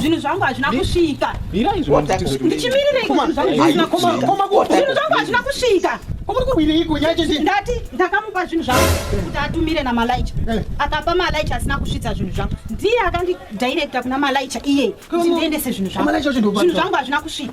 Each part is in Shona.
zvinhu zvangu hazvina kusvika ndati ndakamupa zvinhu zvangu kuti atumire namalaicha eh. akapa malaicha asina kusvitsa zvinhu zvangu ndiye akandidirecta kuna malaicha iye kuti ndiendese zvinhu zvangu zvinhu zvangu hazvina kusvika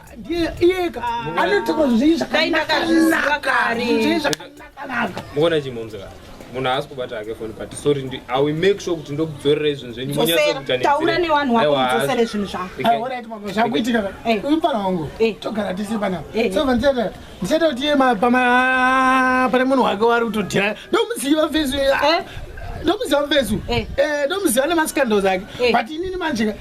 iyeka anotaura zvinhu zvakanakanaka muona chimomzeka munhu haasi kubata hake foni but sorry ndi i will make sure kuti ndokudzorera izvinhu zvenyu munyatsokutaura nevanhu wako mudzosere zvinhu zvakuitika umfana wangu togara tese panapa so vandichata ndichata kuti iye pane munhu wake wari kutodhira ndomuziva fesu ndomuziva fesu ndomuziva nemasikandles ake but inini manjika